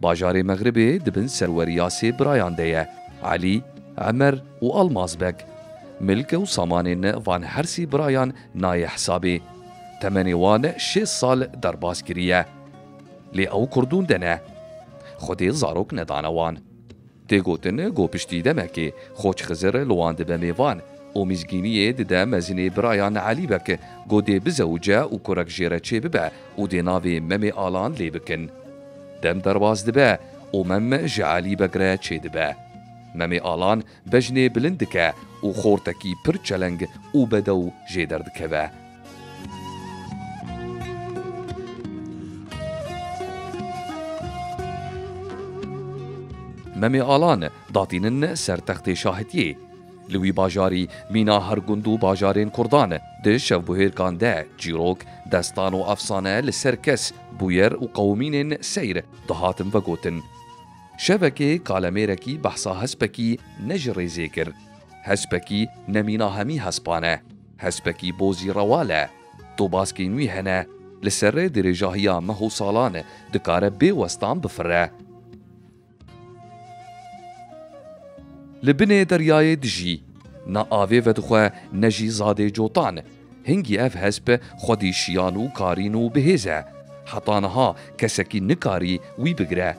Bajarê Mexribê di bin serweriya sê birayan de ye, Elî, Emer û Almaz Beg. Milke û samanên van her sî birayan nayê hesabê. Temenê wan şêst sal derbas kiriye. Lê ew kurdûn de ne. Xwedê zarok nedane wan. Tê gotin ku piştî demekê Xoç Xizir li wan dibe mêvan û mîzgîniyê dide mezinê birayan Elî Bek ku dê bizewce û kurek jê re çêbibe û dê navê Memê Alan lê bikin. Dem derbas dibe û Mem ji Elî Bek re çêdibe. Memê Alan bejnê bilind dike û xortekî pir çeleng û bedew jê derdikeve. Memê Alan datînin ser textê şahitiyê. Li wî bajarî mîna her gund û bajarên Kurdan di şevbuhêrkan de çîrok, destan û efsane li ser kes, bûyer û qewimînên seyr dihatin vegotin. Şevekê kalemêrekî behsa hespekî ne ji rêzê kir. Hespekî ne mîna hemî hespan e. Hespekî bo zî rewal e. Do baskên wî hene, li ser rê dirêjahiya meh û salan dikare bê westan bifire. Li binê deryayê dijî, na avê vedixwe ne jî zadê cotan. Hingî ev hesp xwedî şiyan û karîn û bihêz e. Heta niha kesekî nikarî wî bigire.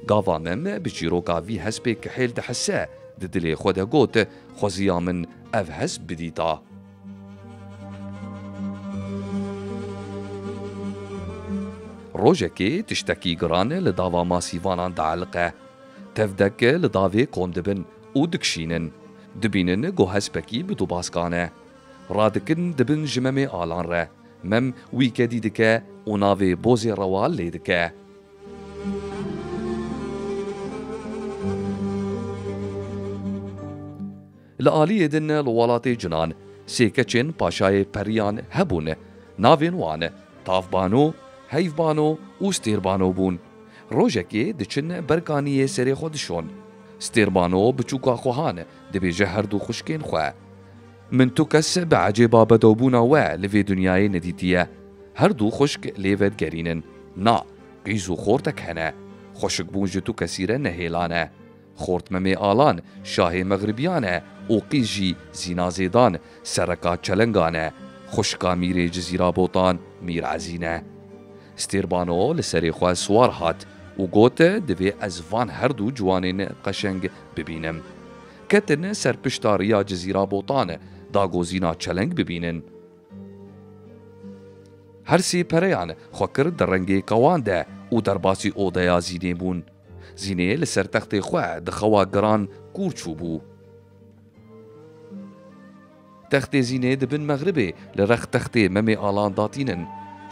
Gava Mem bi çîroka vî hespê kihêl dihise, di dilê xwe de got, Xweziya min ev hesp bidîta. Rojekê tiştekî giran li dava masîvanan dieliqe. Tevdek li davê kom dibin û dikişînin. Dibînin ku hespekî bi dubaskan e. Radikin dibin ji Memê Alan re. Mem wî kedî dike û navê Bozê Rewal lê dike. Li aliyê din li welatê Cunan sê keçên paşayê periyan hebûn. Navên wan Tavbano, Heyvbano û Stêrbano bûn. Rojekê diçin ber kaniyê serê xwe dişon. Stêrbano biçûka Kohan dibêje herdû xwişkên xwe. Min tu kes bi ecêba bedewbûna we li vê dinyayê nedîtiye. Her du xwişk lê vedigerîn in. Na, qîz û xortek hene. Xwişikbûn ji tu kesî re ne hêlan e. Xort Memê Alan, şahê Mexribiyan e û qîz jî Zîna Zêdan, sereka Çelengan e. Xwişka Mîrê Cizîra Botan, Mîr Ezîn e. Stêrbano li serê xwe siwar hat û got, Divê ez van her du ciwanên qeşeng bibînim. Ketin ser pişta riya Cizîra Botan e dagozîna çeleng bibînin. Her sê pereyan xwe kir di rengê kawan de û derbasî odeya Zînê bûn. Zînê li ser textê xwe di xewa giran kûr çûbû. Textê Zînê di bin mexribê li rex textê Memê Alan da tînin.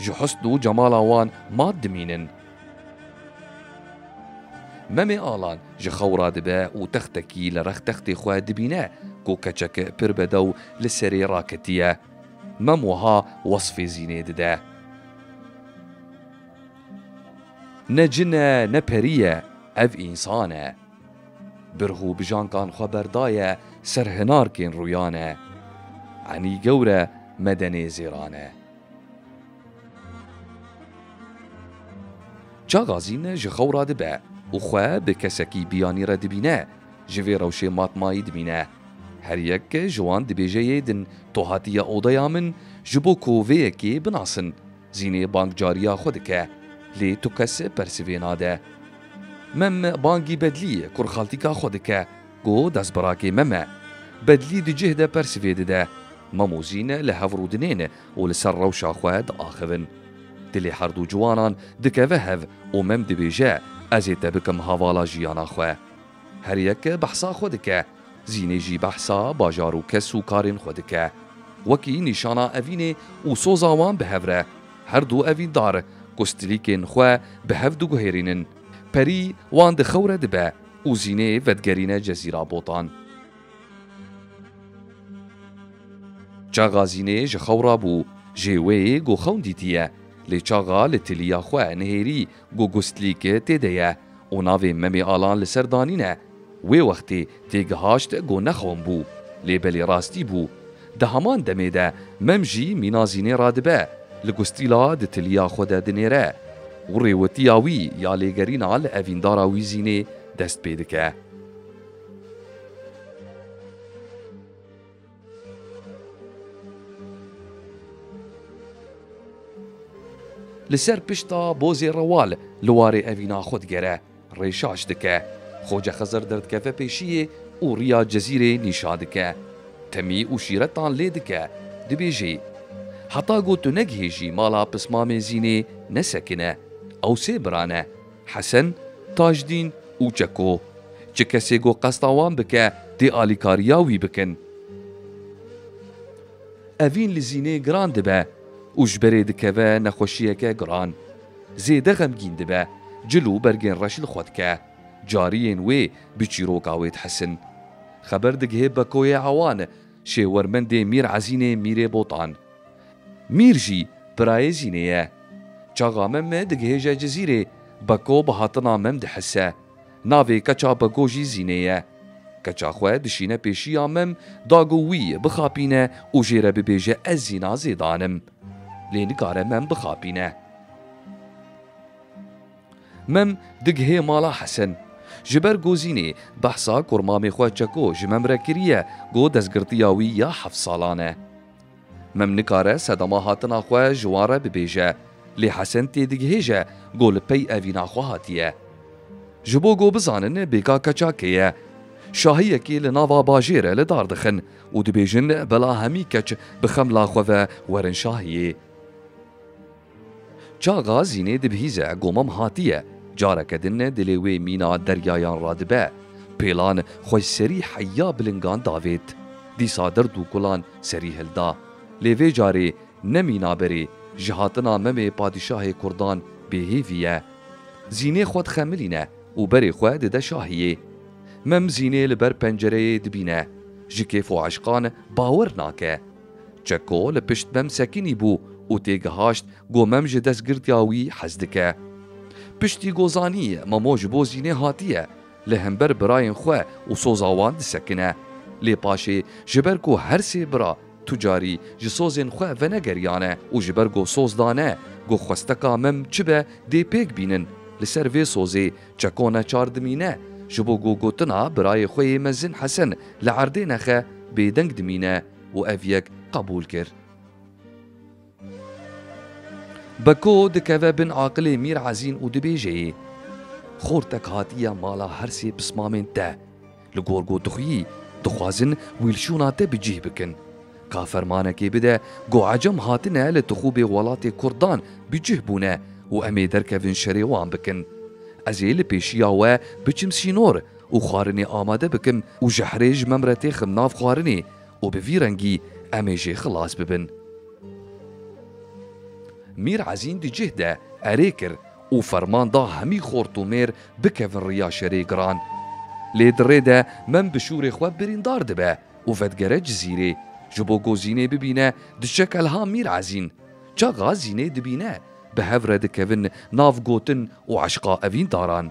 Ji husn û cemala wan mat dimînin. Memê Alan ji xew re dibe û textekî li rex textê xwe dibîne ku keçeke pir bedew li serê raketiye. Mem wiha wesfê Zînê dide. Ne cin e ne perî ye, ev însan e. Birx û bijankan xwe berdaye ser hinarkên rûyane. Enî gewre me de nêzêrane. Çagazîn ji xew radibe û xwe bi kesekî biyanî re dibîne, ji vê rewşê matmayî dimîne. Her yek ji wan dibêje yê din to hatiye odeya min ji bo ku vê yekê binasin. Zînê bang cariya xwe dike, lê tu kes persivê nade. Mem bangî Bedlî, kurxaltîka xwe dike, go destbirakê mem e. Bedlî di cih de persivê dide. Mem û Zîn li hev rûdinên û li ser rewşa xwe diaxivin. Dilê herdû ciwanan dikeve hev û mem dibêje, Ez ê te bikim havala jiyana xwe. Her yek behsa xwe dike. Zînê jî behsa bajar û kes û karên xwe dike. Wekî nîşana evînê û soza wan bi hev re. Her du evîndar ku stilîkên xwe bi hev diguhêrînin. Perî wan di xew re dibe û Zînê vedigerîne Cezîra Botan. Çaxa Zînê ji xew rabû. Jê wê ê ku xewn dîtiye. Lê çaxa li tiliya xwe nihêrî Ku Gustlîk tê de ye û navê Memê Alan li ser danîn e. Wê wextê têgihaşt ku ne xom bû, lê belê rastî bû. Di heman demê de Mem jî mîna zînê re dibe, li Gustlîla di tiliya xwe de dinêre û rêwitiya wî ya lêgerîna li evîndara wî zînê dest pê dike. Li ser pişta bozê rewal li warê evîna xwe digere, rêşaş dike. Xoce Xizir derdikeve pêşiyê û riya Cezîrê nîşa dike. Temî û şîretan lê dike, dibêjî, Heta ku tu negihêjî mala Pismamê Zînê nesekine. Ew sê birane. Hesen, Tajdîn û Çeko, Çi kesê ku qesta wan bike tê alîkariya wî bikin. Evîn li zînê giran dibe û ji berê dikeve nexweşiyeke giran. Zêde xemgîn dibe, cil û bergên reş li xwe dike. Cariyên wê bi çîroka wê dihesin. Xeber digihê Bekoyê Ewan, şêwermendê Mîr Ezînê Mîrê Botan. Mîr jî birayê Zînê ye. Çaxa mem me digihêje Cizîrê, Beko bi hatina mem dihise. Navê keça Beko jî Zînê ye. Keça xwe dişîne pêşiya mem, dago wî bixapîne û jê re bibêje ez Zîna Zêdan im. Lê nikare mem bixapîne. Mem digihê mala Hesen. Ji ber ku Zînê behsa kurmamê xwe Çeko ji mem re kiriye, ku destgirtiya wî ya heft salan e. Mem nikare sedema hatina xwe ji wan re bibêje, lê Hesen têdigihêje go li pey evîna xwe hatiye. Ji bo go bizanin bêka keça kê ye. Şahiyekî li nava bajêr e li dar dixin û dibêjin bela hemî keç bi xemla xwe ve werin şahiyê. Çaxa zînê dibihîze ku mam hatiye, careke din dilê wê mîna deryayan radibe. Pêlan xwe ji serî heya bilingan davêt. Dîsa dird û kulan serî hilda. Lê vê carê ne mîna berê, ji hatina memê padîşahê kurdan bêhêvî ye. Zînê xwe dixemilîne û berê xwe dide şahiyê. Mem zînê li ber pencereyê dibîne. Ji kêf û eşqan bawer nake. Çeko li pişt Mem Sekînî bû û têgihaşt go Mem ji destgirtiya wî hez dike. Piştî go zanî Memo ji bo Zînê hatiye, li hember birayên xwe û soza wan disekine. Lê paşê ji ber ku her sê bira tu carî ji sozên xwe venegeriyane û ji ber go soz dane go xwesteka Mem çi be dê pêk bînin, li ser vê sozê Çeko ne çar dimîne, ji bo gogotina birayê xwe yê mezin Hesen li erdê nexe bêdeng dimîne û ev yek qebûl kir. Beko dikeve bin aqilê Mîr Ezîn û dibêjê, Xortek hatiye mala her sê pismamên te. Li gor gotixuyî dixwazin wî li şûna te bi cih bikin. Ka fermanekê bide ku ecem hatine li tixûbê welatê kurdan bi cih bûne û em ê derkevin şerê wan bikin. Ez ê li pêşiya we biçim sînor û xwarinê amade bikim û jehrê ji me re têxim nav xwarinê û bi vî rengî em ê jê xilas bibin. Mîr Ezîn di cih de erê kir û ferman da hemî xort û mêr bikevin riya şerê giran. Lê di rê de mem bi şûrê xwe birîndar dibe û vedigere Cizîrê, ji bo ku Zînê bibîne diçe kelha Mîr Ezîn. Çaxa Zînê dibîne, bi hev re dikevin nav gotin û eşqa evîndaran.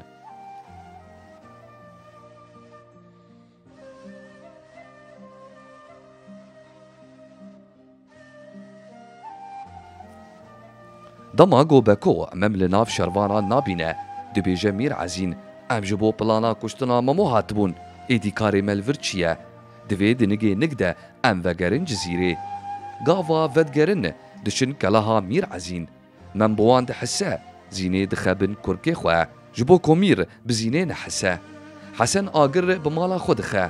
Dema ku Beko mem li nav şervanan nabîne, dibêje Mîr Ezîn, Em ji bo plana kuştina Memo hatibûn, êdî karê me li vir çi ye? Di vê dinigê nig de em vegerin Cizîrê. Gava vedigerin, diçin keleha Mîr Ezîn. Mem bi wan dihise, zînê dixebin kurkê xwe, ji bo komîr bi zînê nehise. Hesen agir bi mala xwe dixe.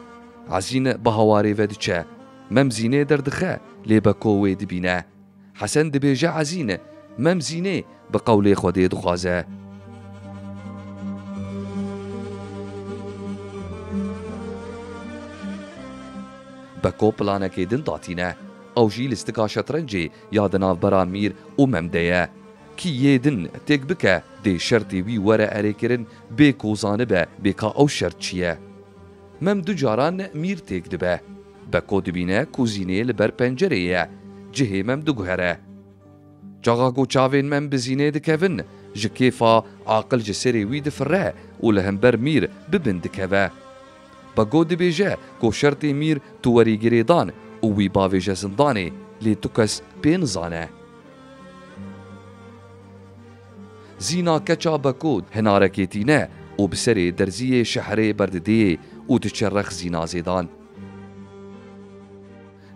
Ezîn bi hawarê ve diçe. Mem zînê derdixe, lê Beko wê dibîne. Hesen dibêje Ezîn, Mem zînê bi qewlê Xwedê dixwaze. Beko planekê din datîne. Ew jî li stika şetrencê Ya di navbera mîr û mem de ye. Kî yê din têk bike, dê şertê wî were erêkirin bê ku zanibe bê ka ew şert çi ye. Mem du caran mîr têk dibe. Beko dibîne kuzînê li ber pencerê ye, cihê mem diguhere. Çaxa ku çavên mem bi zînê dikevin, ji kêfa aqil ji serê wî difire û li hember mîr bi bin dikeve. Bego dibêje ku şertê mîr tu werî girêdan û wî bavêje zindanê, lê tu kes pê nizane. Zîna keça Beko hinarekê tîne û bi serê derziyê şehrê berdidêê û diçe rex zîna zêdan.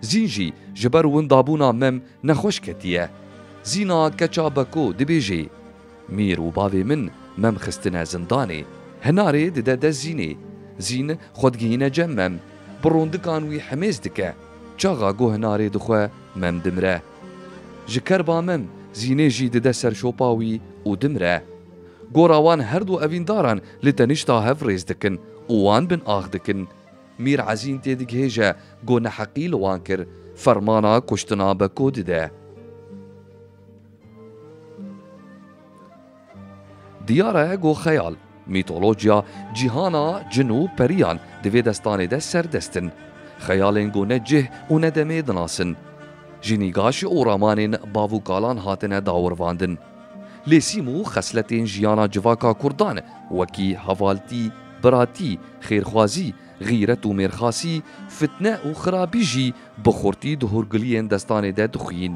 Zîn jî ji ber windabûna mem nexweş ketiye. Zîna keça Beko dibêjê. Mîr û bavê min mem xistine zindanê. Hinarê dide dest Zînê. Zîn xwe digihîne cem mem. Bi rondikan wî himêz dike. Çaxa goh hinarê dixwe mem dimire. Ji ker ba mem Zînê jî dide ser şopa wî û dimire. Gora wan her du evîndaran li tenişta hev rêz dikin û wan bin ax dikin. Mîr Ezîn têdigihêje goh neheqî li wan kir. Fermana kuştina Beko dide. Diyar e ku xeyal, mîtolojya, cîhana cin û periyan di vê destanê de serdest in. Xeyalên ku ne cih û ne demê dinasin. Ji nîgaş û ramanên bav û kalan hatine dawirvandin. Lêsîm û xesletên jiyana civaka kurdan wekî hevaltî, biratî, xêrxwazî, xîret û mêrxasî, fitne û xirabî jî bi xurtî di hûrgiliyên destanê de dixuyîn.